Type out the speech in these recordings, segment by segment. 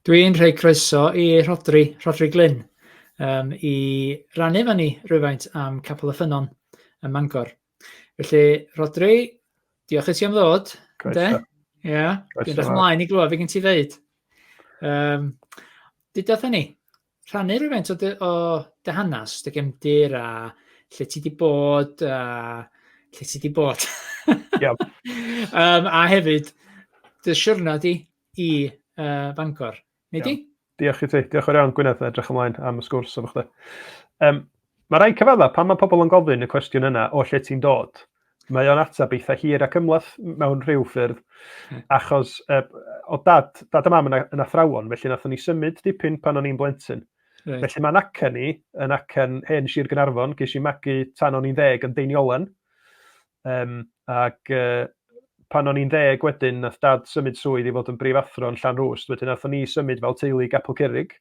Dwi'n rhoi croeso i Rhodri, Rhodri Glyn, um, i rannu fan ni rhywfaint am Capel y Ffynon ym Mangor. Felly, Rhodri, diolch i ti am ddod. Croeso. Ia, yeah. dwi'n dweud ymlaen i glywed fe gen ti ddeud. Um, Dydw ni. rhannu rhywfaint o dy, o dy hanes, dy gefndir a lle ti wedi bod a lle ti wedi bod. Iawn. um, a hefyd, dy siwrna di i uh, Bangor. Neu di? Diolch i ti. Diolch o'r iawn, Gwyneth. Edrych ymlaen am y sgwrs efo chdi. Um, Mae rhai cyfaddau pan mae pobl yn gofyn y cwestiwn yna o lle ti'n dod. Mae o'n ateb eitha hir ac ymlath mewn rhyw ffyrdd, hmm. achos e, o dad, dad a mam yn, yn athrawon, felly nathon ni symud dipyn pan o'n i'n blentyn. Right. Felly mae'n acen ni, yn acen hen Sir Gynarfon, ges i magu tan o'n i'n ddeg yn Deiniolen, Yym ac yy pan o'n i'n ddeg wedyn nath dad symud swydd i fod yn brif athro yn Llanrwst wedyn nathon ni symud fel teulu i Gapel Curig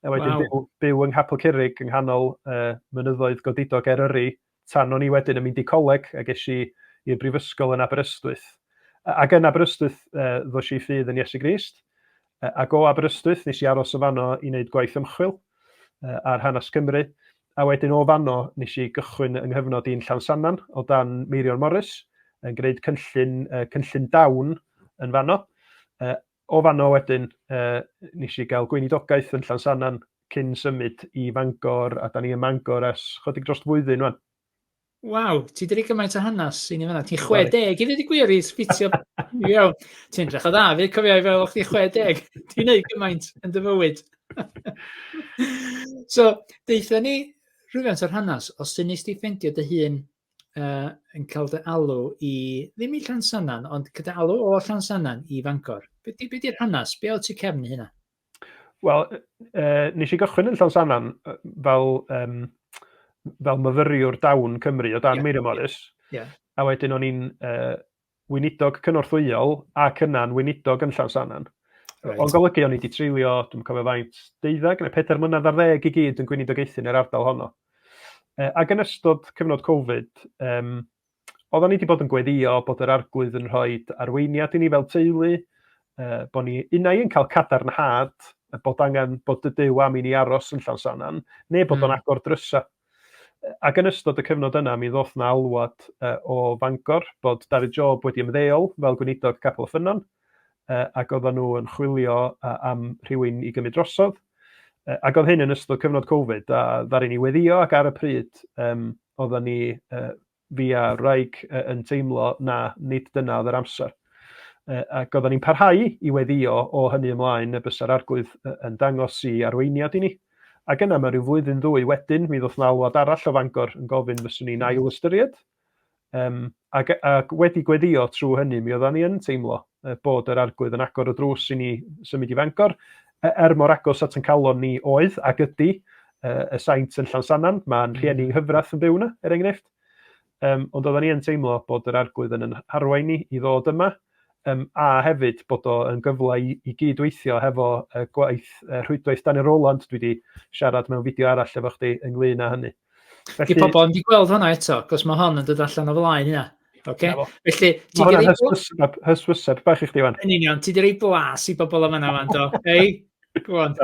a wedyn wow. byw, byw yng Nghapel Curig yng nghanol uh, mynyddoedd godidog Eryri tan o'n i wedyn yn mynd i coleg a ges i i'r brifysgol yn Aberystwyth. Ac yn Aberystwyth uh, ddos i ffydd yn Iesu Grist Uh, ac o Aberystwyth, nes i aros o fanno i wneud gwaith ymchwil uh, ar hanes Cymru, a wedyn o fanno nes i gychwyn yng nghyfnod i'n Llansannan o dan Meirion Morris, yn gwneud cynllun, uh, cynllun dawn yn fanno. Uh, o fanno wedyn, uh, nes i gael gweinidogaeth yn Llansannan cyn symud i Fangor, a da ni ym Mangor ers chodig dros flwyddyn rwan. Waw, ti wedi gymaint o hanes i ni fanna. Ti'n 60 i ddweud y gwir i sbitio iawn. Ti'n drach o dda, fi cofio i fel o'ch ti'n 60. Ti'n neud gymaint yn dy fywyd. so, deitha ni rhywfaint o'r hanes, os ti'n nes ti ffendio dy hun uh, yn cael dy alw i, ddim i Llansannan, ond gyda alw o Llansannan i Fangor. Be di'r hanes? Be o ti cefn hynna? Wel, uh, nes i gychwyn yn Llansannan fel, um, fel myfyriwr dawn Cymru o dan yeah. Meirion Morris. Yeah. A wedyn o'n i'n uh, weinidog cynorthwyol ac yna'n weinidog yn Llansannan. Right. O'n golygu o'n i wedi treulio, dwi'n cofio faint, deuddag neu pedair mlynedd ar ddeg i gyd yn gweinidogaethu yn yr ardal honno. E, ac yn ystod cyfnod Covid, um, oeddan ni 'di bod yn gweddio bod yr Arglwydd yn rhoi arweiniad i ni fel teulu, uh, bod ni unai yn cael cadarnhad y bod angen bod dy dew am i ni aros yn llawn sanan, neu bod o'n hmm. agor drysa. Ac yn ystod y cyfnod yna, mi ddoth na alwad uh, o Fangor bod David Job wedi ymddeol fel gweinidog Capel y Ffynnon, uh, ac oedden nhw yn chwilio uh, am rhywun i gymryd drosodd. Uh, ac oedd hyn yn ystod cyfnod Covid, a ddarin ni weddio ac ar y pryd, um, Oeddan ni, fi a wraig, yn teimlo na nid dyna oedd yr amser. Ac oeddan ni'n parhau i weddio o hynny ymlaen y bysa'r Arglwydd yn dangos i arweiniad i ni. Ac yna mae rhyw flwyddyn ddwy wedyn, mi ddoth 'na alwad arall o Fangor yn gofyn fyswn i'n ail ystyried. Um, Ac, ac wedi gweddio trwy hynny, mi oeddan ni yn teimlo bod yr arglwydd yn agor y drws i ni symud i Fangor, e, er mor agos at yn calon ni oedd ac ydy y saint yn Llansannan, mae'n rhieni nghyfrath yn byw yna, er enghraifft. Um, ond oedden ni yn teimlo bod yr arglwydd yn yn harwain ni i ddod yma, Yym, a hefyd bod o yn gyfle i, i gyd-weithio hefo uh, gwaith uh, rhwydwaith Daniel Roland, dwi wedi siarad mewn fideo arall efo chdi ynglyn â hynny. Felly... Di pobl yn di gweld hwnna eto, cos mae hon yn dod allan o flaen hynna. Okay. Felly, ti wedi rhoi... Hyswyseb bach i chdi fan. Yn union, ti wedi rhoi blas i bobl am yna fan do. Hei, go on.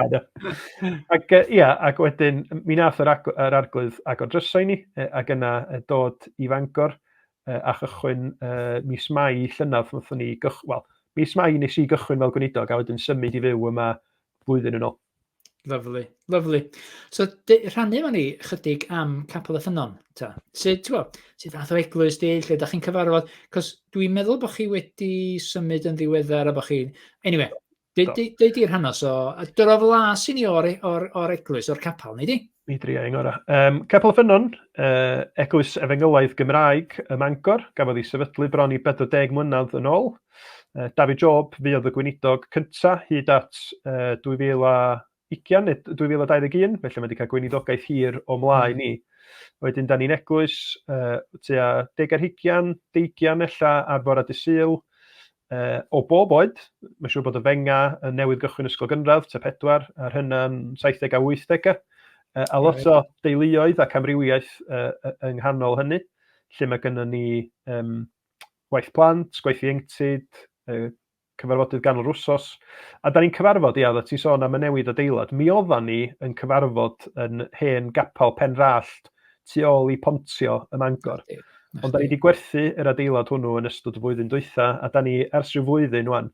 ac ia, ac wedyn, mi nath yr, ag yr arglwydd agor drysau ni, ac yna dod i fangor, a chychwyn mis Mai llynedd wnaethon ni gychwyn, wel, mis Mai nes i gychwyn fel gweinidog a wedyn symud i fyw yma flwyddyn yn ôl. Lyflu, lyflu. So, rhannu efo ni chydig am Capel y Ffynnon, ta. Sut, ti'n gwybod, sut fath o eglwys di, lle da chi'n cyfarfod? Cos dwi'n meddwl bod chi wedi symud yn ddiweddar a bod chi... Anyway, Dei, dei, dei di'r hanes o... Dyr o flas i ni o'r, e- or, or eglwys, o'r capel, ni di? Mi dri ein gorau. Um, Capel y Ffynnon, uh, eglwys efengylaidd Gymraeg ym Mangor, gafodd ei sefydlu bron i 40 mlynedd yn ôl. Uh, David Job, fi oedd y gweinidog cyntaf hyd at uh, 2000 a... ugian neu 2021, felly mae wedi cael gweiniddogaeth hir o mlaen ni. Wedyn, da ni'n eglwys uh, tua deg ar hugian, deigian ella ar fora dy syl, uh, o bob oed. Mae'n siŵr bod y fenga yn newydd gychwyn ysgol gynradd, tua pedwar, a'r hynna'n 70 a 80 Uh, a lot o deuluoedd ac amrywiaeth uh, yng nghanol hynny, lle mae gennym ni um, waith plant, gweithio ieuenctid, uh, cyfarfodydd ganol yr wsos, a da ni'n cyfarfod, ia, oeddet ti'n sôn am y newid adeilad, mi oedda ni yn cyfarfod yn hen gapel Penrallt tu ôl i Pontio ym Mangor. Ond da ni wedi gwerthu yr adeilad hwnnw yn ystod y flwyddyn dwytha, a da ni ers rhyw flwyddyn wan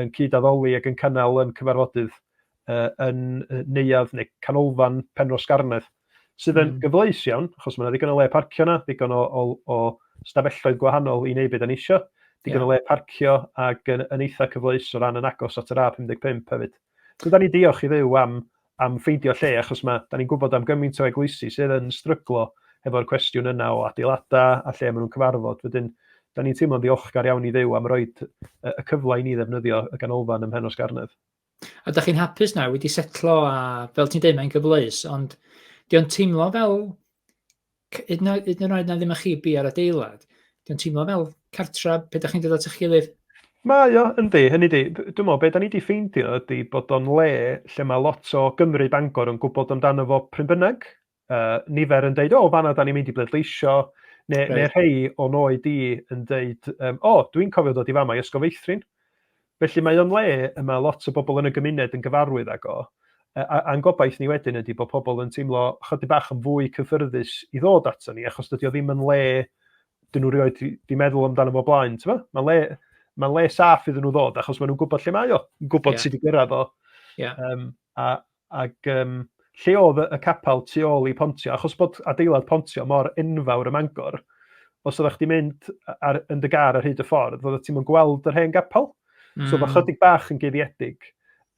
yn cyd-addoli ac yn cynnal yn cyfarfodydd uh, yn neuadd neu canolfan Penro Sgarnedd, sydd yn mm. gyfleus iawn, achos mae yna ddigon o le parcio yna, ddigon o, o, o stafelloedd gwahanol i wneud beth yn eisiau, digon yeah. o le parcio ac yn, yn eitha cyfleus o ran yn agos at yr A55 hefyd. So da ni diolch i ddew am, am ffeindio lle, achos mae, da ni'n gwybod am gymaint o eglwysi sydd yn stryglo efo'r cwestiwn yna o adeiladau a lle maen nhw'n cyfarfod. Wedyn, da ni'n teimlo'n ddiolchgar iawn i ddew am roed y cyfle i ni ddefnyddio y ganolfan ym Mhenos Garnedd. A da chi'n hapus na, wedi setlo a fel ti'n dweud mae'n gyfleus, ond di o'n teimlo fel, hyd yn oed na ddim â chi bi ar adeilad, di o'n teimlo fel cartra pe da chi'n dod at eich gilydd? Mae o, yndi, hynny di, dwi'n meddwl, be da ni wedi ffeindio ydy bod o'n le lle mae lot o Gymru Bangor yn gwybod amdano fo pryn bynnag, uh, nifer yn dweud, o, oh, fanna da ni'n mynd i bleidleisio, neu, right. neu rhai o'n oed i yn dweud, um, o, oh, dwi'n cofio dod i fama i Ysgol Feithrin. Felly mae o'n le y mae lot o bobl yn y gymuned yn gyfarwydd ag o, a'n gobaith ni wedyn ydy bod pobl yn teimlo chydig bach yn fwy cyffyrddus i ddod ato ni, achos dydy o ddim yn le, dyn nhw rioed di meddwl amdano fo blaen, ti'n Mae'n le, mae le saff iddyn nhw ddod, achos maen nhw'n gwybod lle mae o, yn gwybod yeah. sydd wedi gyrraedd o. Yeah. Um, a, Ac yym lle oedd y capel tu ôl i Pontio? Achos bod adeilad Pontio mor enfawr ym Mangor, os oeddech chdi mynd ar, yn dy gar ar hyd y ffordd, oeddet ti'n gweld yr hen gapel. Mm. So mae hmm. chydig bach yn guddiedig.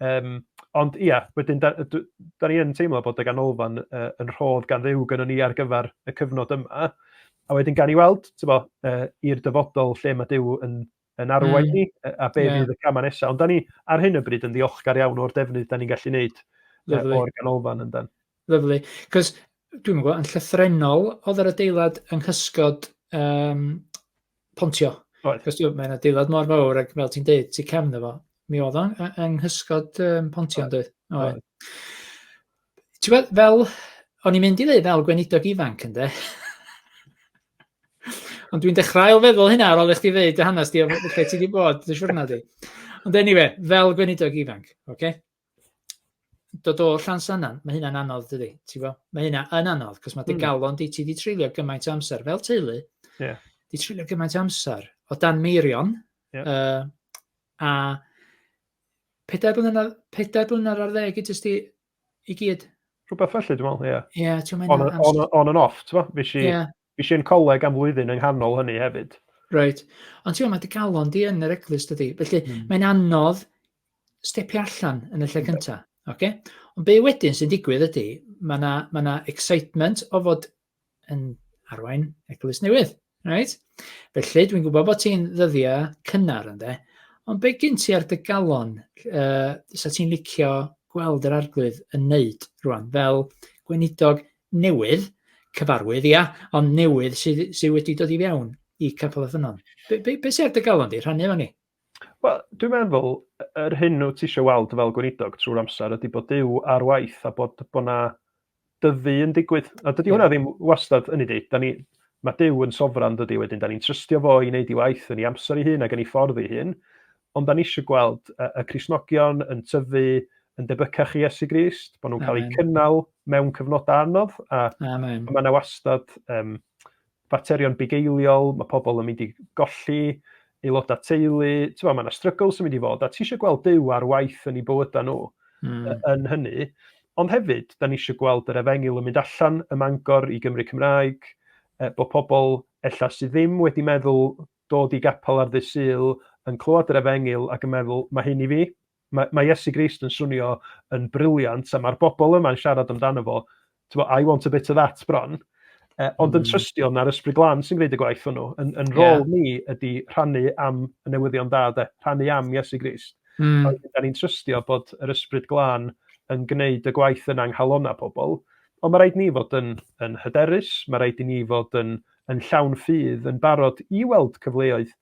Um, ond ia, wedyn, da, da, da ni yn teimlo bod y ganolfan uh, yn rhodd gan ddew gyda ni ar gyfer y cyfnod yma. A wedyn gan i weld, ti'n bo, uh, i'r dyfodol lle mae Dyw yn yn arwain ni a be fydd y camau nesaf. Ond da ni ar hyn o bryd yn ddiolchgar iawn o'r defnydd da ni'n gallu wneud o'r ganolfan yn dan. Lyflu. Cos dwi'n gwybod, yn llythrenol oedd yr adeilad yng nghysgod um, Pontio. Oedd. Cos mae'n adeilad mor fawr ac fel ti'n deud, ti cefn efo. Mi oedd o'n yng nghysgod um, Pontio yn dweud. Oedd. Ti'n fel, o'n i'n mynd i ddweud fel gweinidog ifanc ynddo. Ond dwi'n dechrau ail feddwl hynna ar ôl i chdi ddeud dy hanes di o lle ti wedi bod dy siwrna di. Ond anyway, fel gweinidog ifanc, oce? Okay? Dod o llan sanan, mae hynna'n anodd dydy, ti'n gwybod? Mae hynna yn anodd, cos mae dy hmm. galon di, ti di treulio gymaint o amser fel teulu. Yeah. Di treulio gymaint o amser o dan meirion. Yeah. Uh, a pedair blynedd, pedair blynedd ar ddeg i jyst i i gyd. Rhywbeth felly, dwi'n meddwl, ie. Yeah. Ie, yeah, ti'n meddwl... On, on, on and off, ti'n meddwl? Fes i, yeah. fes i'n coleg am flwyddyn yng nghanol hynny hefyd. Right. Ond ti'n meddwl, mae dy galon di yn yr eglwys dydy. Felly, mm. mae'n anodd stepio allan yn y lle cyntaf. Okay? Ond be wedyn sy'n digwydd ydy, mae yna ma excitement o fod yn arwain eglwys newydd. Right? Felly, dwi'n gwybod bod ti'n ddyddiau cynnar ynddo, ond be gyn ti ar dy galon uh, sa ti'n licio gweld yr arglwydd yn neud rwan, fel gweinidog newydd, cyfarwydd, ia, ond newydd sydd, sydd wedi dod i fewn i Capel y Ffynon. Be, be, be sy'n ar dy galon di? Rhannu efo ni. Wel, dwi'n meddwl, yr hyn wyt ti eisiau weld fel gweinidog trwy'r amser ydy bod Dyw ar waith a bod bod na dyfu yn digwydd. A dydy hwnna ddim wastad yn ei dweud. Da ni, mae Dyw yn sofran dydy wedyn. Da ni'n trystio fo i wneud ei waith yn ei amser ei hun ac yn ei ffordd ei hun. Ond da ni eisiau gweld y, y Crisnogion yn tyfu yn debycach i Iesu Grist, bod nhw'n cael eu cynnal mewn cyfnodau anodd. A, a mae yna wastad um, faterion bugeiliol, mae pobl yn mynd i golli aelodau teulu, ti'n mae yna struggles yn mynd i fod, a ti eisiau gweld Duw ar waith yn ei bywydau nhw mm. yn hynny. Ond hefyd, da ni eisiau gweld yr efengil yn mynd allan y mangor i Gymru Cymraeg, e, bod pobl ella sydd ddim wedi meddwl dod i gapel ar ddydd syl yn clywed yr efengil ac yn meddwl, mae hyn i fi, Mae, mae Iesu Grist yn swnio yn briliant, a mae'r bobl yma'n siarad amdano fo, bo, I want a bit of that bron. Uh, ond mm. yn hmm. trystio na'r ysbryd glan sy'n gwneud y gwaith hwnnw. Yn, yn rôl yeah. ni ydy rhannu am y newyddion da, de, rhannu am Iesu Grist. Mm. A da ni'n trystio bod yr ysbryd glan yn gwneud y gwaith yna nghalona pobl. Ond mae rhaid ni fod yn, yn hyderus, mae rhaid i ni fod yn, yn llawn ffydd, yn barod i weld cyfleoedd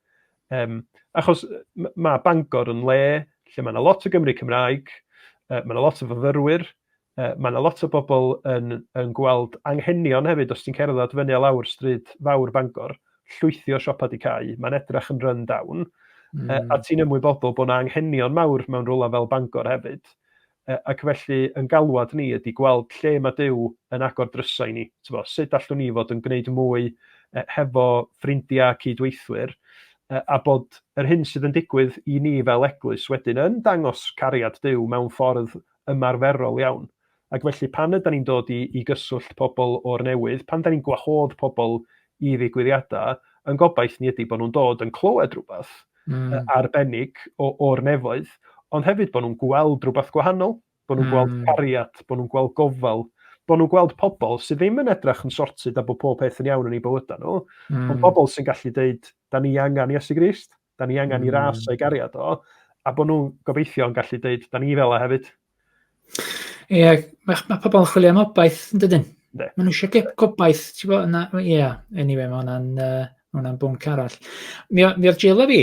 Um, achos mae Bangor yn le lle mae yna lot o Gymru Cymraeg, uh, mae yna lot o fyfyrwyr, uh, mae yna lot o bobl yn, yn gweld anghenion hefyd os ti'n cerdded fyny a lawr stryd fawr Bangor, llwythi o siopa di cael, mae'n edrach yn run down, mm. uh, a hmm. ti'n ymwybodol bod yna anghenion mawr mewn rhywle fel Bangor hefyd. Ac felly, yn galwad ni ydy gweld lle mae Duw yn agor drysau i ni. Tybod, sut allwn ni fod yn gwneud mwy hefo ffrindiau a cyd-weithwyr, a bod yr hyn sydd yn digwydd i ni fel eglwys wedyn yn dangos cariad Duw mewn ffordd ymarferol iawn. Ac felly, pan ydan ni'n dod i i gyswllt pobl o'r newydd, pan ydan ni'n gwahodd pobl i ddigwyddiadau, yn gobaith ni ydy bod nhw'n dod yn clywed rhywbeth mm. arbennig o'r nefoedd, ond hefyd bod nhw'n gweld rhywbeth gwahanol, bod nhw'n mm. gweld hmm. cariad, bod nhw'n gweld gofal, bod nhw'n gweld pobl sydd ddim yn edrych yn sortid a bod pob peth yn iawn yn ei bywydau nhw, mm. ond hmm. pobl sy'n gallu dweud, da ni angen Iesu Grist. Da ni angen mm. i ras o'i gariad o, a bod nhw'n gobeithio yn gallu dweud, da ni fel e hefyd. Ie, yeah, mae, mae pobl yn chwilio am obaith yn dydyn. Mae nhw eisiau gobaith, ti'n bod, yna, ie, yeah, anyway, mae hwnna'n uh, ma hwnna bwnc arall. Mi, mi oedd Jill a fi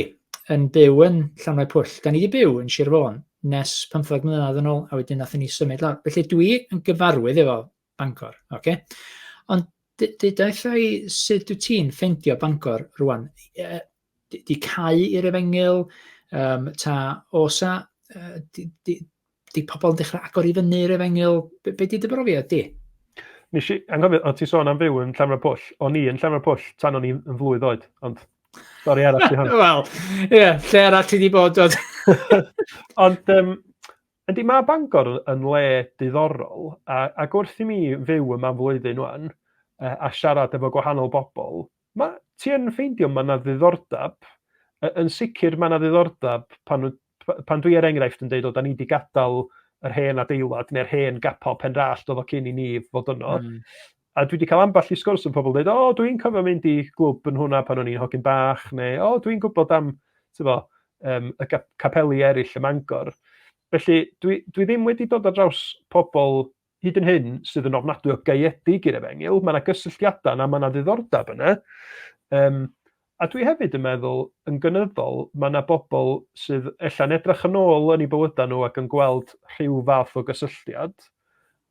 yn byw yn Llanwau Pwll. Da ni wedi byw yn Sir Fôn nes 15 mlynedd yn ôl, a wedyn nath ni symud lawr. Felly dwi yn gyfarwydd efo Bangor, ok. Ond deutha i sut wyt ti'n ffeindio Bangor rwan? Yy d- 'di cau i'r efengyl yym ta oes 'na yy d- d- 'di pobl yn dechrau agor i fyny i'r efengyl? Be' be' 'di dy brofiad di? Nes i anghofio o' ti'n sôn am fyw yn Llanfair Pwll. O'n i yn Llanfair Pwll tan o'n i yn flwydd oed ond stori arall 'di hon. Wel ie lle arall ti 'di bod t'od? Ond yym Yndi mae Bangor yn le diddorol a, ac wrth i mi fyw yma am flwyddyn wan a siarad efo gwahanol bobl, ma, ti yn ffeindio mae yna ddiddordeb, yn sicr mae yna ddiddordeb pan, pan dwi er enghraifft yn dweud o da ni wedi gadael yr hen adeilad neu'r hen gapo Penrallt oedd o cyn i ni fod yno. Mm. A dwi wedi cael ambell i sgwrs yn pobl dweud, o, oh, dwi'n cofio mynd i glwb yn hwnna pan o'n i'n hogyn bach, neu, o, oh, dwi'n gwybod am tyfo, um, y capeli eraill y Mangor. Felly, dwi, dwi ddim wedi dod ar draws pobl hyd yn hyn sydd yn ofnadwy o gaeedig i'r efengyl. Mae yna gysylltiadau yna, mae yna ddiddordeb yna. Um, A dwi hefyd yn meddwl, yn gynyddol, mae 'na bobl sydd ella'n edrych yn ôl yn eu bywydau nhw ac yn gweld rhyw fath o gysylltiad,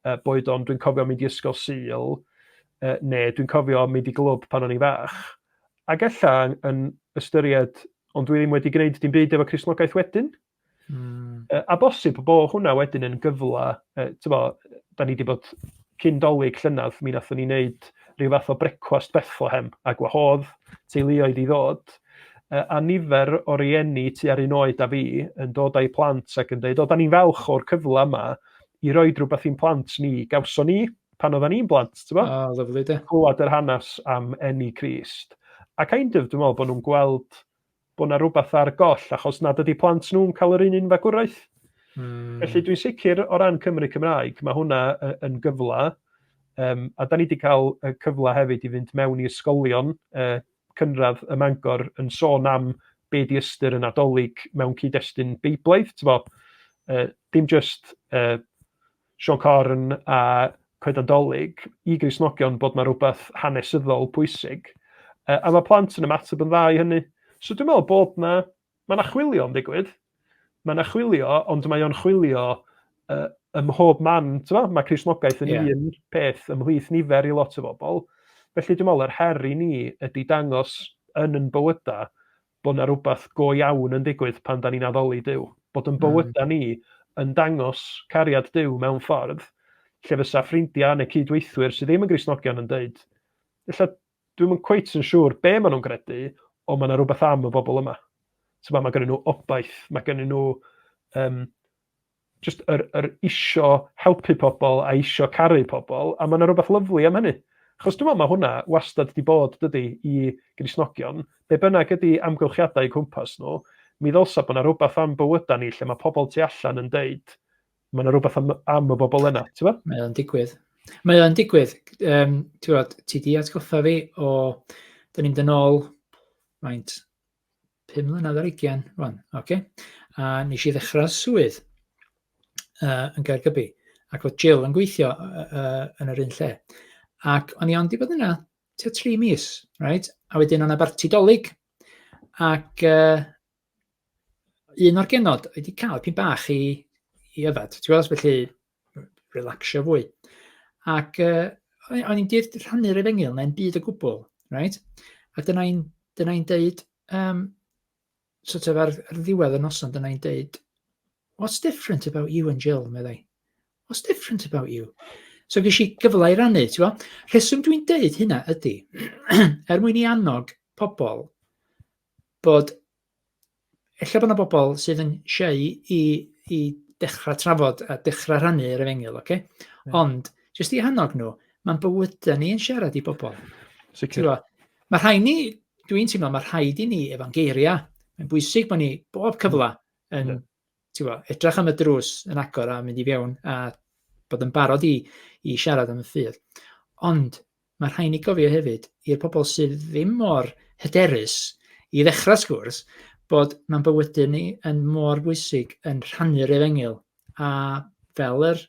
yy boed o'n dwi'n cofio mynd i ysgol Sul, yy neu dwi'n cofio mynd i glwb pan o'n i'n fach, ac ella yn ystyried ond dwi ddim wedi gwneud dim byd efo Cristnogaeth wedyn. Mm. Uh, a bosib bo hwnna wedyn yn gyfla, uh, tyfo, da ni wedi bod cyn dolyg llynedd, mi nathon ni wneud rhyw fath o brecwast Bethlehem a gwahodd teuluoedd i ddod. Uh, a nifer o rieni tu ar un oed a fi yn dod â'i plant ac yn dweud, o, da ni'n falch o'r cyfle yma i roi rhywbeth i'n plant ni, gawson ni pan oedden ni'n blant, ti'n bo? Ah, lyflu de. Clywed yr hanes am enni Crist. A kind of, dwi'n meddwl bod nhw'n gweld bod yna rhywbeth ar goll achos nad ydy plant nhw'n cael yr un un fagwraeth. Mm. Felly dwi'n sicr o ran Cymru Cymraeg, mae hwnna yn gyfle, um, a da ni wedi cael cyfle hefyd i fynd mewn i ysgolion uh, cynradd y Mangor yn sôn am be di ystyr y Nadolig mewn cyd-destun Beiblaidd, ti'n bod, uh, dim just uh, Sio Corn a Coeden Dolig i Gristnogion bod 'na rwbeth hanesyddol pwysig. Yy a ma' plant yn ymateb yn dda i hynny. So dwi'n meddwl bod 'na ma' 'na chwilio yn digwydd. Ma' 'na chwilio ond mae o'n chwilio yy ym mhob man t'mo' ma' Cristnogaeth yn yeah. un peth ymhlith nifer i lot o bobl. Felly dwi'n meddwl yr her i ni ydy dangos yn yn bywyda bod 'na rywbeth go iawn yn digwydd pan 'dan ni'n addoli Duw, bod yn bywydau ni yn dangos cariad Duw mewn ffordd lle fysa ffrindiau neu cyd-weithwyr sydd ddim yn Gristnogion yn deud, ella dwi'm yn cweit yn siŵr be maen nhw'n gredu, ond mae yna rhywbeth am y bobl yma. Mae ma gennyn nhw obaith, mae gennyn nhw um, jyst yr, yr isio helpu pobl a isio caru pobl, a mae yna rhywbeth lyflu am hynny. Chos dwi'n meddwl mae hwnna wastad wedi bod, dydy, i grisnogion, be bynnag ydy amgylchiadau cwmpas nhw, mi ddylsa bod yna rhywbeth am bywydau ni lle mae pobl tu allan yn deud, mae yna rhywbeth am, am y bobl yna, ti'n meddwl? Mae o'n digwydd. Mae o'n digwydd. Um, ti'n bod, ti di atgoffa fi o, dyn ni'n dyn ôl, maint, pum mlynedd ar ugian rwan, oce? A nes i ddechrau swydd uh, yn Gaergybi, ac oedd Jill yn gweithio uh, uh, yn yr un lle. Ac o'n i ond i fod yna tua tri mis, right? a wedyn o'n abarti dolyg, ac uh, un o'r genod wedi cael pyn bach i, i yfad. Ti'n gwybod, felly relaxio fwy. Ac uh, o'n i'n dweud rhannu'r efengyl, mae'n byd o gwbl, right? A dyna i'n dyna i'n deud, um, sort of ar, ar ddiwedd y noson, dyna i'n deud, what's different about you and Jill, meddai? What's different about you? So gysi i gyfle i rannu, ti'n gwybod? Rheswm dwi'n deud hynna ydy, er mwyn i annog pobl bod ella bod yna bobl sydd yn siau i, i dechrau trafod a dechrau rhannu yr efengyl, oce? Okay? Yeah. Ond, jyst i hannog nhw, mae'n bywydau ni yn siarad i bobl. Sicr. Mae rhai ni, dwi'n teimlo, mae rhaid i ni efo'n geiriau. Mae'n bwysig bod ni bob cyfle yn yeah. Bo, edrych am y drws yn agor a mynd i fewn a bod yn barod i, i siarad am y ffydd. Ond Mae rhaid ni gofio hefyd, i'r pobl sydd ddim mor hyderus i ddechrau sgwrs, bod mae'n bywydau ni yn mor bwysig yn rhannu'r efengyl. A fel yr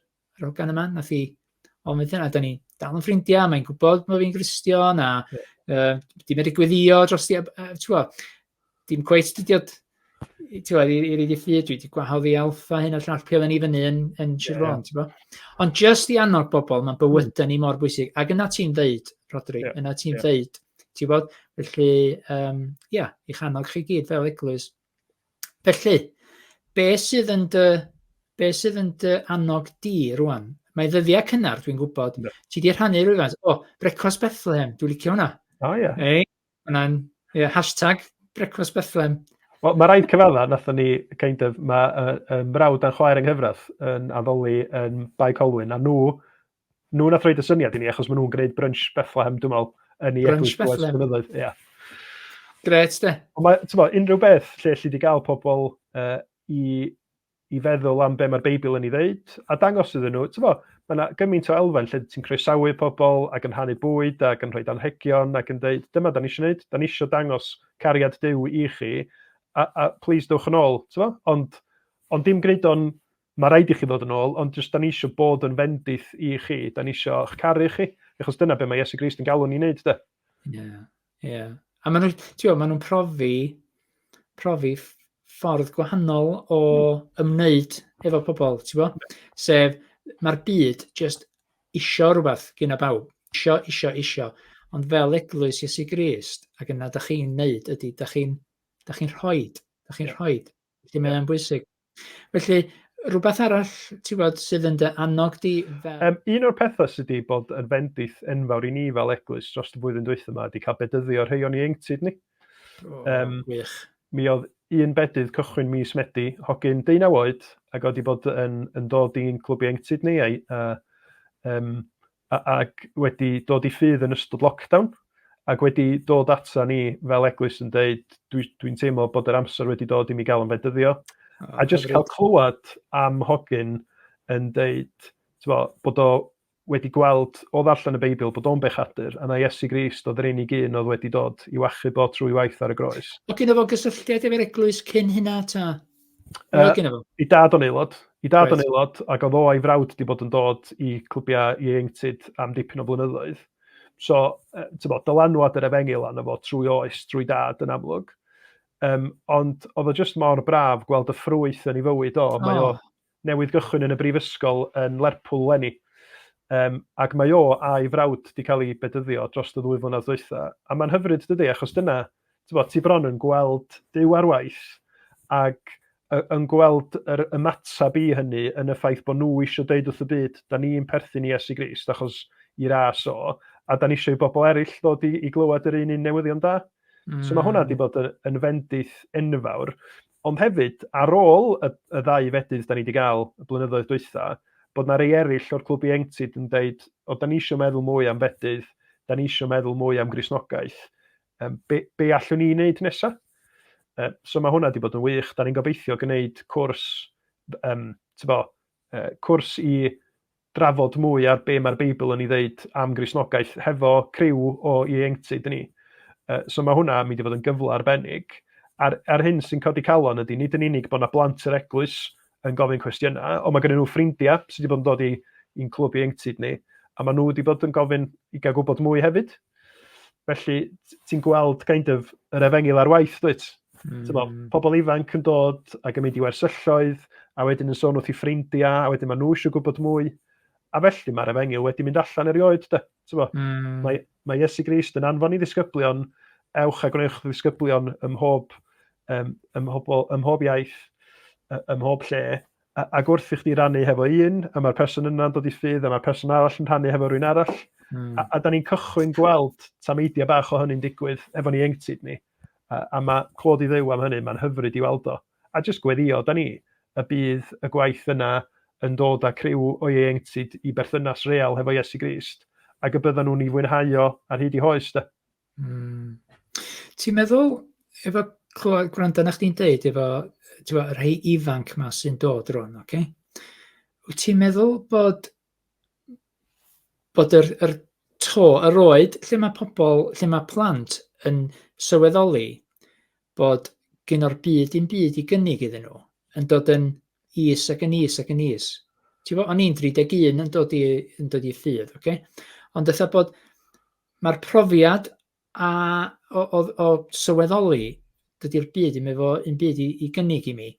rogan yma, nath i ofyn wrthyn, a da ni dal yn ffrindiau, mae'n gwybod bod fi'n Gristion, a yeah. uh, di medru gweddio dros di, uh, dim cweit dydiod ti'wod i i rili ffydd dwi 'di gwahodd i alfa hyn a llall pry' oedden ni fyny yn yn Sir yeah. Fôn t'bo'. Ond jyst i annog bobl mae'n bywyda mm. ni mor bwysig ac yna ti'n ddeud Rodri yeah. yna ti'n yeah. ddeud ti'n bod? felly um, ia yeah, i'ch annog chi gyd fel eglwys. Felly be' sydd yn dy be' sydd yn dy annog di rwan? Mae ddyddiau cynnar dwi'n gwybod. Yeah. Ti 'di rhannu rhywfaint o brecwast Bethlehem dwi'n licio hwnna. O oh, ia. Yeah. Ei? Hwna'n, ie, hashtag Brecwast Bethlem. Wel, mae rhaid cyfadda, nathon ni, kind of, mae uh, um, brawd a'n chwaer yng nghyfraith yn addoli yn Bae Colwyn, a nhw, nhw nath roed y syniad i ni, achos maen nhw'n gwneud brunch Bethlehem, dwi'n meddwl, yn ei eglwys dros blynyddoedd. Yeah. Gret, de. Ond mae, ti'n meddwl, unrhyw beth lle allu di gael pobl uh, i i feddwl am be mae'r Beibl yn ei ddeud, a dangos iddyn nhw, ti'n fawr, mae yna gymaint o elfen lle ti'n croesawu pobl ac yn rhannu bwyd ac yn rhoi anhegion ac yn dweud, dyma da ni eisiau gwneud, da ni eisiau dangos cariad Dyw i chi, a, a please dewch yn ôl, ti'n fawr, ond, ond dim gwneud o'n, mae rhaid i chi ddod yn ôl, ond jyst da ni eisiau bod yn fendith i chi, da ni eisiau eich caru chi, achos dyna be mae Iesu Grist yn galw ni wneud, da. Yeah. Ie, a maen nhw... tibod maen nhw'n profi profi ff- ffordd gwahanol o ymwneud efo pobl tibod. Sef mae'r byd jyst isio rywbeth gynna bawb. Isio, isio, isio. Ond fel eglwys Iesu Grist, ac yna dach chi'n wneud ydy, dach chi'n dach chi'n rhoi, dach chi'n rhoi. Felly mae o'n bwysig. Felly, rhywbeth arall ti'n bod sydd yn dy annog di fel... Um, un o'r pethau sydd wedi bod yn fendith enfawr i ni fel eglwys dros y flwyddyn dwytha yma ydy cael bedyddio rhai o'n ieuenctid ni. Oh, um, wych. Mi oedd un bedydd cychwyn mis Medi, hogyn deunaw oed, ac oedd wedi bod yn, yn dod i'n clwb ieuenctid ni, a, a um, ac wedi dod i ffydd yn ystod lockdown, ac wedi dod ata ni fel eglwys yn dweud, dwi'n dwi teimlo bod yr amser wedi dod i mi gael yn fedyddio. Oh, a jyst cael clywed am hogyn yn dweud bo, bod o wedi gweld o ddarllen y Beibl bod o'n bechadur, a na Iesu Grist oedd yr unig un oedd wedi dod i wachu bod trwy waith ar y groes. Oedd gen fo gysylltiad efo'r eglwys cyn hynna ta? Uh, I dad o'n aelod. I dad o'n aelod, ac oedd o a'i frawd wedi bod yn dod i clybiau ieuenctid am dipyn o flynyddoedd. So, uh, tyfo, dylanwad yr efengil anna fo trwy oes, trwy dad yn amlwg. Um, ond oedd o jyst mor braf gweld y ffrwyth yn ei fywyd o. Mae oh. o newydd gychwyn yn y brifysgol yn Lerpwl 'leni, yym, ac mae o a'i frawd 'di cael eu bedyddio drost y ddwy flynedd dwytha, a mae'n hyfryd dydi, achos dyna, tibod, ti bron yn gweld Duw ar waith, ac y- yn gweld yr ymateb i hynny yn y ffaith bod nhw eisiau deud wrth y byd, da ni'n perthyn i Iesu Grist, achos i ras o, a da ni eisiau i bobl eraill ddod i, i glywed yr un un newyddion da. So mae hwnna wedi bod yn, yn fendith enfawr. Ond hefyd, ar ôl y y ddau fedydd 'dan ni 'di ga'l y blynyddoedd dwytha, bod 'na rei eryll o'r clwb ieuenctid yn deud, o 'dan ni isio meddwl mwy am fedydd, 'dan ni isio meddwl mwy am Gristnogaeth, yym be' be' allwn ni neud nesa? Yy so ma' hwnna 'di bod yn wych, 'dan ni'n gobeithio gneud cwrs yym t'bo' yy cwrs i drafod mwy ar be mae'r Beibl yn ei ddeud am Gristnogaeth hefo criw o ieuenctid ni. Uh, so mae hwnna yn mynd i fod yn gyfle arbennig. A'r, ar hyn sy'n codi calon ydy, nid yn unig bod yna blant yr eglwys yn gofyn cwestiynau, ond mae gen nhw ffrindiau sydd wedi bod yn dod i'n clwb ieuenctid ni, a maen nhw wedi bod yn gofyn i gael gwybod mwy hefyd. Felly, ti'n gweld kind of yr efengil ar waith, dwyt? Mm. Bo, hmm. pobl ifanc yn dod ac yn mynd i wersylloedd, a wedyn yn sôn wrth i ffrindiau, a wedyn maen nhw eisiau gwybod mwy. A felly mae'r efengil wedi mynd allan erioed, da. Mm. Mae, mae Iesu Grist yn anfon i ddisgyblion, ewch a gwnewch ddisgyblion ym mhob, um, ym mhob, ym mhob iaith, ym mhob lle, ac wrth i chdi rannu hefo un, a mae'r person yna'n dod i ffydd, a mae'r person arall yn rhannu hefo rhywun arall, mm. a, a da ni'n cychwyn gweld tameidiau bach o hynny'n digwydd efo ni engtid ni, a, a mae clod i ddew am hynny, mae'n hyfryd i weld o. A jyst gweddio, da ni, y bydd y gwaith yna yn dod â criw o ieuenctid i berthynas real hefo Iesu Grist, ac y byddan nhw'n ei fwynhau o ar hyd i hoes, da. Mm. Ti'n meddwl, efo clywed, gwrando na chdi'n deud, efo twa, y rhai ifanc ma sy'n dod rhwng, oce? Okay? Wyt ti'n meddwl bod, bod yr, yr to, yr oed, lle mae pobl, lle mae plant yn sylweddoli bod gen o'r byd i'n byd i gynnig iddyn nhw, yn dod yn is ac yn is ac yn is. Ti'n fawr, o'n i'n 31 yn dod i, yn dod i ffydd, oce? Okay? Ond eitha bod, Mae'r profiad a o o o sylweddoli dydy'r byd ddim efo un byd i i gynnig i mi,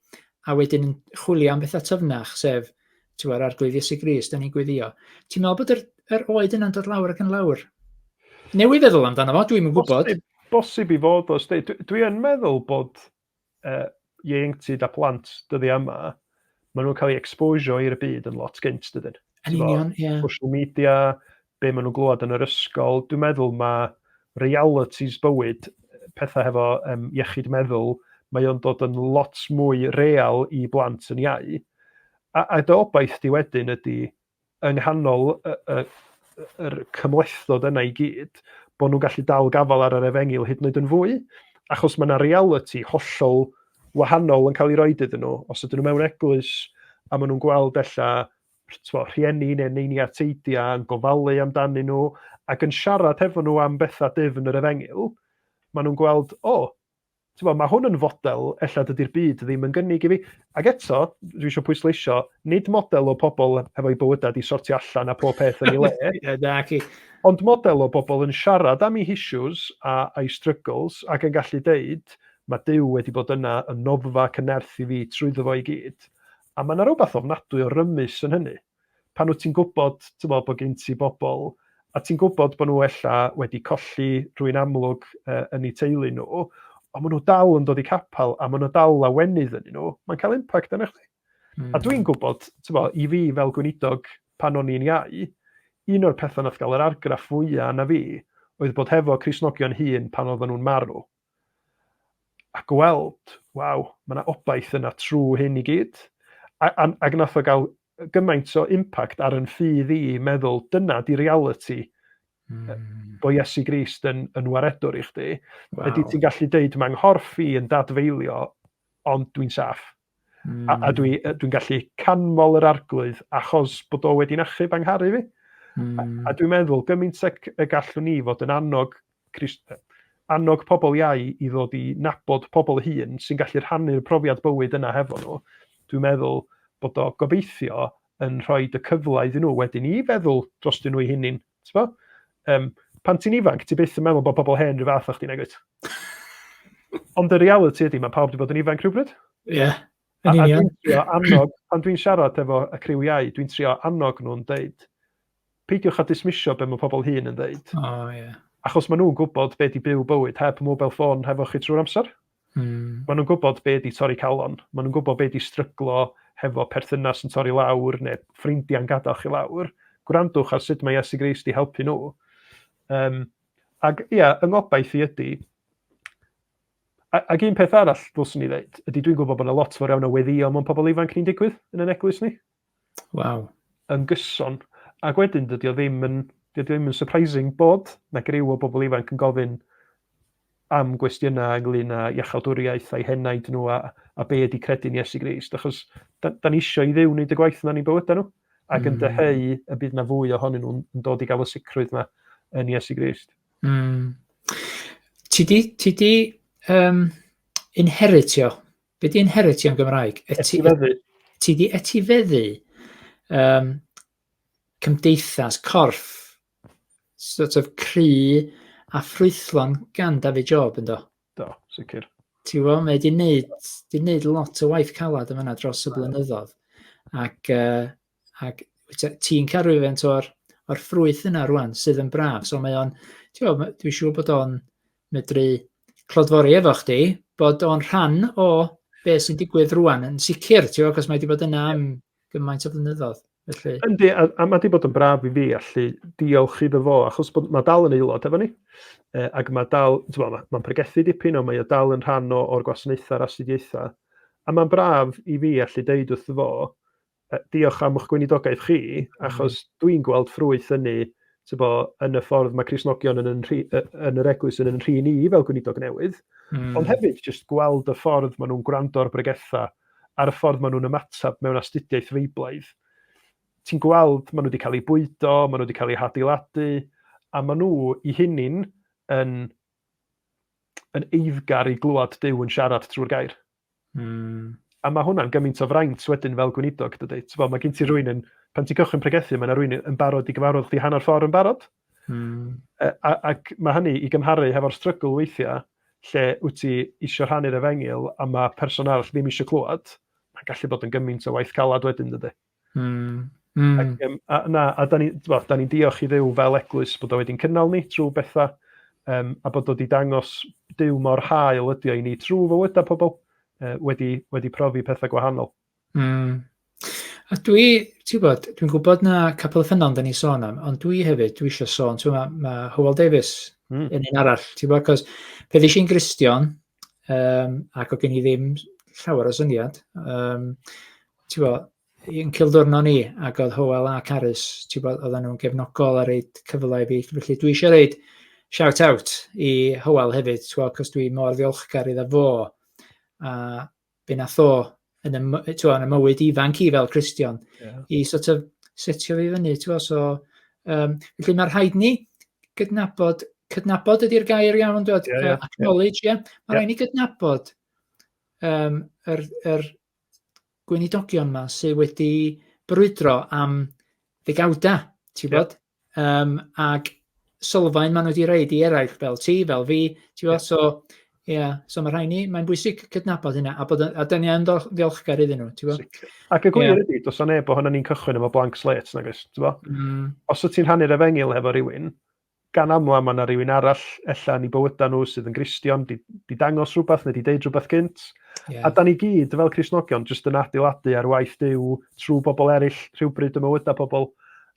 a wedyn yn chwilio am bethau tyfnach, sef ti'n gwbod, Arglwydd Iesu Grist, dan ni'n gweddio. Ti'n meddwl bod yr, yr oed yna'n dod lawr ac yn lawr? Newydd feddwl amdano fo, dwi'm yn gwybod. Bosib, bosib i fod os dwi, dwi yn meddwl bod uh, ieuenctid a plant dyddiau yma, maen nhw'n cael ei exposio i'r byd yn lot gynt, dydyn. Yn union, ie. Yeah. Social media, be maen nhw'n glwad yn yr ysgol, dwi'n meddwl mae realities bywyd, pethau hefo um, iechyd meddwl, mae o'n dod yn lot mwy real i blant yn iau. A, a dy obaith di wedyn ydy yng nghanol y, y, yr cymhlethdod yna i gyd, bod nhw'n gallu dal gafael ar yr efengil hyd yn oed yn fwy, achos mae yna reality hollol wahanol yn cael ei roed iddyn nhw. Os ydyn nhw mewn eglwys a maen nhw'n gweld ella twa, rhieni neu neini a teidiau yn gofalu amdanyn nhw ac yn siarad hefo nhw am bethau dyfn yr efengil, maen nhw'n gweld, o, oh, Tibod, mae hwn yn fodel ella dydy'r byd ddim yn gynnig i fi. Ac eto, dwi eisiau pwysleisio, nid model o pobl hefo'i bywydau di sortio allan a pob peth yn ei le. Na, chi. Ond model o bobl yn siarad am ei issues a a'i struggles ac yn gallu deud, mae Duw wedi bod yna yn noddfa cynerth i fi trwyddo fo i gyd. A mae yna rhywbeth ofnadwy o rymus yn hynny. pan wyt ti'n gwybod tywod, bod gen ti bobl a ti'n gwybod bod nhw ella wedi colli rhywun amlwg uh, yn eu teulu nhw, ond maen nhw dal yn dod i capel a maen nhw dal lawenydd yn nhw, mae'n cael impact arnach chdi. Mm. A dwi'n gwybod, bo, i fi fel gweinidog pan o'n i'n iau, un o'r pethau nath gael yr argraff fwyaf na fi oedd bod hefo Crisnogion hun pan oedden nhw'n marw. a gweld, waw, mae yna obaith yna trw hyn i gyd. A, a, ac nath o gael gymaint o impact ar yn ffydd i meddwl, dyna di reality mm. bo Iesu Grist yn, yn waredwr i chdi. Wow. Ydy ti'n gallu deud, mae nghorff i yn dadfeilio, ond dwi'n saff. Mm. A, a dwi, dwi'n gallu canmol yr arglwydd achos bod o wedi'n achub angharu fi. Mm. A, hmm. a dwi'n meddwl gymaint y, y gallwn ni fod yn annog, Christ, annog pobl iau i ddod i nabod pobl hun sy'n gallu rhannu'r profiad bywyd yna hefo nhw. Dwi'n meddwl bod o gobeithio yn rhoi y cyfle iddyn nhw wedyn i feddwl dros dyn nhw'i hunin T'bo? Um, pan ti'n ifanc, ti byth yn meddwl bod pobl hen rhyw fath o chdi, nag wyt? Ond y reality ydy, mae pawb wedi bod yn ifanc rhywbryd. Ie. Yeah. A, a dwi'n trio annog, pan dwi'n siarad efo y criwiau, dwi'n trio annog nhw'n deud, peidiwch a dismisio be mae pobl hun yn deud. Oh, yeah. Achos maen nhw'n gwybod be di byw bywyd heb mobile ffôn hefo chi trwy'r amser. Mm. Maen nhw'n gwybod be di torri calon. Maen nhw'n gwybod be di stryglo hefo perthynas yn torri lawr neu ffrindiau'n gadael chi lawr. Gwrandwch ar sut mae Iesu Grist di helpu nhw. Um, ac ia, yeah, yng ngobaith i ydy, Ac un peth arall ddylswn ni ddeud, ydy dwi'n gwybod bod yna lot fawr iawn o weddio mewn pobl ifanc ni'n digwydd yn yn eglwys ni. Waw. yn gyson. Ac wedyn, dydy o ddim yn, dydy o ddim yn surprising bod 'na griw o bobl ifanc yn gofyn am gwestiynau ynglyn â iachawdwriaeth a'i henaid nhw a, a be ydy credu'n Iesu Grist, achos da, da ni eisiau i ddew wneud y gwaith yna ni'n bywydau nhw, ac mm. yn dyheu y bydd na fwy ohonyn nhw'n dod i gael y sicrwydd yna yn Iesu Grist. Mm. Ti di, ti di um, inheritio Be di inheritio yn Gymraeg? Etifeddu. Ti di etifeddu um, cymdeithas, corff, sort of cry a ffrwythlon gan David Job yn do? Do, sicr. Ti'n gwybod, mae di wneud, di wneud lot o waith calad yma dros y blynyddoedd. Ac uh, ac ti'n cael rhywfaint o'r, or ffrwyth yna rwan sydd yn braf. So mae o'n, dwi'n siŵr bod o'n medru clodfori efo chdi, bod o'n rhan o be sy'n digwydd rwan yn sicr, ti'n gwybod, cos mae wedi bod yna am gymaint o flynyddoedd. Felly... Yndi, a, a mae wedi bod yn braf i fi allu diolch iddo fo, achos bod, mae dal yn aelod efo ni, e, ac mae dal, mae'n ma, ma pregethu dipyn o, mae o dal yn rhan o'r gwasanaethau a'r astudiaethau, a mae'n braf i fi allu deud wrth fo, diolch am eich gweinidogaeth chi, achos dwi'n gweld ffrwyth hynny tybo, yn y ffordd mae Crisnogion yn, yn, yn yr eglwys yn yn rhi ni fel gweinidog newydd, mm. ond hefyd jyst gweld y ffordd maen nhw'n gwrando ar bregethau a'r ffordd maen nhw'n ymateb mewn astudiaeth feiblaidd. Ti'n gweld, maen nhw wedi cael eu bwydo, maen nhw wedi cael eu hadeiladu, a maen nhw i hunin yn, yn eiddgar i glwad Dyw yn siarad trwy'r gair. Mm. A mae hwnna'n gymaint o fraint wedyn fel gweinidog, dydy. Bo, mae gen ti rwy'n yn, pan ti'n cychwyn pregethu, mae yna rwy'n yn barod i gyfarfod chdi hanner ffordd yn barod. Mm. A, a, ac mae hynny i gymharu hefo'r strygl weithiau lle wyt ti eisiau rhannu'r efengil a mae person arall ddim eisiau clywed, mae'n gallu bod yn gymaint o waith calad wedyn, dydy. Mm. Mm. Ac, um, a, na, a da ni'n ni, diolch i ddew fel eglwys bod o wedi'n cynnal ni trwy bethau um, a bod o wedi dangos dew mor hael ydi o i ni trwy fywydau pobl uh, wedi, wedi profi pethau gwahanol. Mm. A dwi, ti'n gwybod, dwi'n gwybod na capel y ffynnon da ni sôn am, ond dwi hefyd, dwi eisiau sôn, ti'n gwybod, mae ma Howell Davis mm. yn un arall, ti'n gwybod, cos pe ddys i'n Gristion, yym ac oedd gen i ddim llawer o syniad yym tibod i'n cylddwrno ni ac oedd Hywel a Carys tibod oedden nhw'n gefnogol a roid cyfle i fi felly dwi eisiau roid shout out i Hywel hefyd tibod achos dwi mor ddiolchgar iddo fo a be wnaeth o yn y, my- t'wod, yn y mywyd ifanc i fel Cristion yeah. i sort of setio fi fyny, t'wod, so um, felly mae rhaid ni gydnabod cydnabod ydy'r gair iawn yn dod, yeah, yeah, acknowledge, ie. Yeah. Yeah. Mae rhaid ni gydnabod um, yr, yr gweinidogion yma sydd wedi brwydro am ddegawda, ti'n bod? Yeah. Um, ac sylfaen maen nhw wedi reid i eraill fel ti, fel fi, ti'n gwybod? So, ie, yeah. so mae rhai ni, mae'n bwysig cydnabod hynna, a, bod, a dyn ni yn ddiolchgar iddyn nhw, ti'n gwybod? Ac y gwir yeah. ydy, dos o'n neb o hynny ni'n cychwyn efo blank slate, nag oes, ti'n gwybod? Mm. Os wyt ti'n hannu'r efengil efo rhywun, gan aml am yna rhywun arall, ella ni bywydau nhw sydd yn gristion, di, di dangos rhywbeth neu di deud rhywbeth gynt. Yeah. A da ni gyd, fel Crisnogion, jyst yn adeiladu ar waith Dyw trwy bobl eraill rhywbryd y mywydau pobl.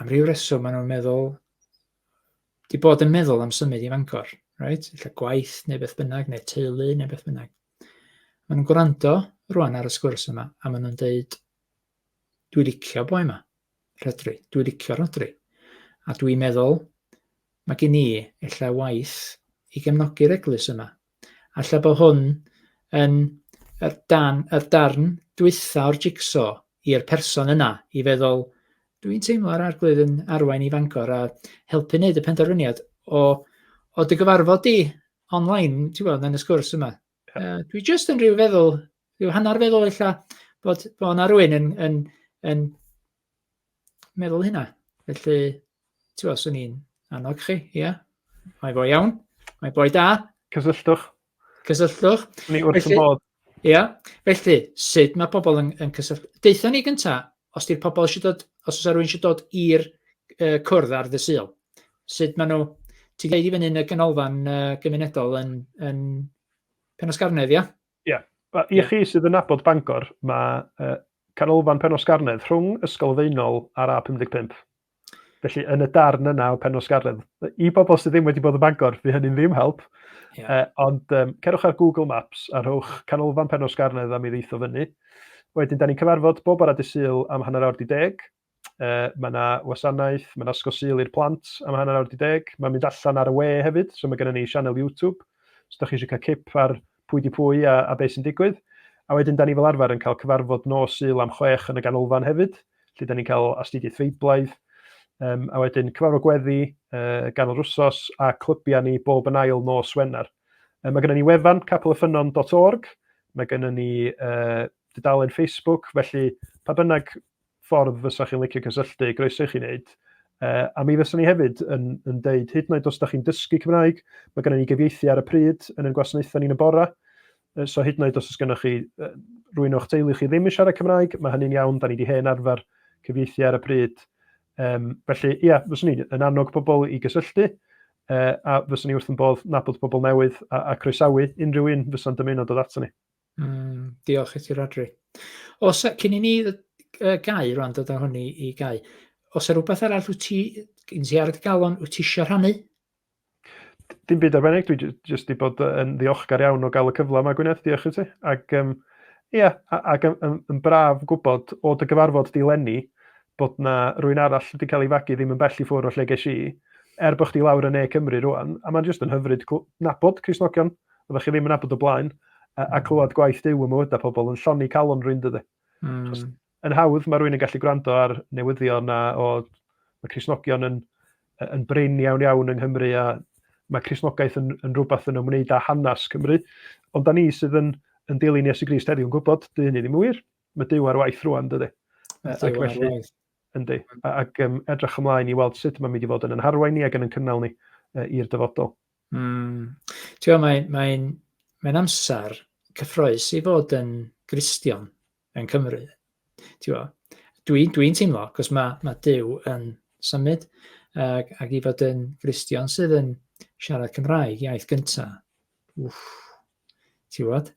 am ryw reswm maen nhw'n meddwl, di bod yn meddwl am symud i Fangor, right? Lle gwaith neu beth bynnag, neu teulu neu beth bynnag. Maen nhw'n gwrando rwan ar y sgwrs yma, a maen nhw'n dweud, dwi licio boi yma, rhedri, dwi licio rhodri. A dwi'n meddwl, mae gen i efallai waith i gefnogi'r eglwys yma, A lle bod hwn yn yr dan, yr darn dwytha o'r jigso i'r person yna i feddwl, dwi'n teimlo ar arglwydd yn arwain i Fangor a helpu wneud y penderfyniad o, o dy gyfarfod di online, ti'n gweld, yn y sgwrs yma. Yeah. Uh, dwi just yn rhyw feddwl, rhyw hanner feddwl illa bod, bod yna rwy'n yn, yn, yn, meddwl hynna. Felly, ti'n gwybod, swn i'n annog chi, ia. Mae fo iawn, mae boi da. Cysylltwch. Cysylltwch. Ni wrth y bod. Ia, felly, sut mae pobl yn, yn cysylltu? Deitha ni gynta, os di'r pobl eisiau dod, os oes rhywun eisiau dod i'r uh, cwrdd ar dy syl, sut maen nhw, ti'n dweud i fyny yn y ganolfan uh, gymunedol yn, yn Penosgarnedd, ia? Ie. Wel, i chi sydd yn nabod Bangor, mae uh, canolfan Penosgarnedd rhwng Ysgol Feunol a'r A55. Felly, yn y darn yna o Penosgarnedd, i bobl sydd ddim wedi bod yn Bangor, fi hynny'n ddim help. Yeah. Uh, ond um, cerwch ar Google Maps a rhowch canolfan Penosgarnedd am i ddeitho fyny. Wedyn, da ni'n cyfarfod bob bore dydd Sul am hanner awr di deg. Uh, mae yna wasanaeth, mae yna Ysgol Sul i'r plant am hanner awr di deg. Mae'n mynd allan ar y we hefyd, so mae gennym ni sianel YouTube. Os ydych chi eisiau cael cip ar pwy di pwy a, a beth sy'n digwydd. A wedyn, da ni fel arfer yn cael cyfarfod nos Sul am chwech yn y ganolfan hefyd, lle da ni'n cael astudiaeth feiblaidd. Um, a wedyn cyfarfod gweddi uh, ganol rwsos a clybiau ni bob yn ail nos Wener. Um, mae gennym ni wefan capelyffynon.org, mae gennym ni uh, dudalen Facebook, felly pa bynnag ffordd fysa chi'n licio cysylltu, groeso i chi wneud. Uh, a mi fyswn ni hefyd yn, yn deud, hyd yn oed os da chi'n dysgu Cymraeg, mae gennym ni gyfieithu ar y pryd yn ein gwasanaethau ni'n y bora. Uh, so hyd yn oed os oes gennych chi uh, rwy'n o'ch teulu chi ddim yn siarad Cymraeg, mae hynny'n iawn, da ni wedi hen arfer cyfieithu ar y pryd. Um, felly, ia, yeah, fyswn ni yn annog pobl i gysylltu, uh, a fyswn ni wrth yn bodd nabod pobl newydd a, a croesawu unrhyw un fysa'n dymuno dod ato ni. Mm, diolch i ti, Rodri. Os, cyn i ni uh, gau rwan, dod â hwn i, i gau, os yna rhywbeth arall wyt ti, yn ti ar y galon, wyt ti eisiau rhannu? Dim byd arbennig, dwi jyst wedi bod yn ddiolchgar iawn o gael y cyfle yma, Gwyneth, diolch i ti. Ac, um, ia, ac yn, yn, yn braf gwybod o dy gyfarfod di lenni bod na rwy'n arall wedi cael ei fagu ddim yn bell i ffwrdd o lle ges i, er bod chdi lawr yn ne Cymru rwan, a mae'n jyst yn hyfryd nabod Crisnogion Oeddech chi ddim yn abod o blaen, a, a clywed gwaith Duw ym mywydau pobl yn lloni calon rhywun dydy. Mm. Yn hawdd mae rhywun yn gallu gwrando ar newyddion a o, mae Crisnogion yn, yn brin iawn iawn yng Nghymru a mae Crisnogaeth yn, yn rhywbeth yn ymwneud â hanes Cymru. Ond da ni sydd yn, yn dilyn Iesu Grist heddiw yn gwybod, dy hynny ddim yn wir. Mae Duw ar waith rwan dydy. Ac felly, yndi. Ac um, edrych ymlaen i weld sut mae'n mynd i fod yn yn harwain ni ac yn yn cynnal ni uh, i'r dyfodol. Mm. Ti'n gwybod, mae'n mae mae amser cyffroes i fod yn Gristion yn Cymru. Dwi'n dwi, dwi teimlo, cos mae, mae Dyw yn symud, ac, ac i fod yn Gristion sydd yn siarad Cymraeg, iaith gyntaf. Ti'n gwybod?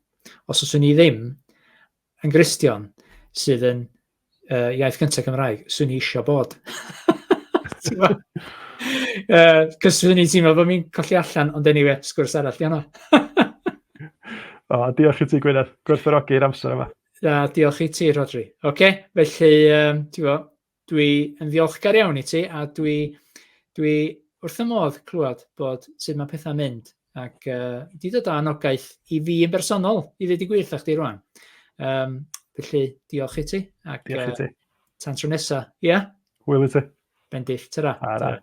Os oes ni ddim, Engristion sydd yn uh, iaith gyntaf Cymraeg, swn i eisiau bod. Cys swn i'n teimlo bod mi'n colli allan, ond anyway, sgwrs arall di hwnna. o, diolch i ti Gwyneth, gwerthorogi'r amser yma. Da, diolch i ti Rodri. Oce, okay, felly, um, ti'n fawr, Dwi yn ddiolchgar iawn i ti a dwi, dwi wrth y modd clywed bod sut mae pethau'n mynd ac uh, di dod â anogaeth i fi yn bersonol i ddweud i gwych â chdi rwan. Um, felly, diolch i ti. Ac, diolch i ti. Uh, tan tro nesa, ia? Yeah? Wyl i ti. Bendill, tyra. Ara. Tyra.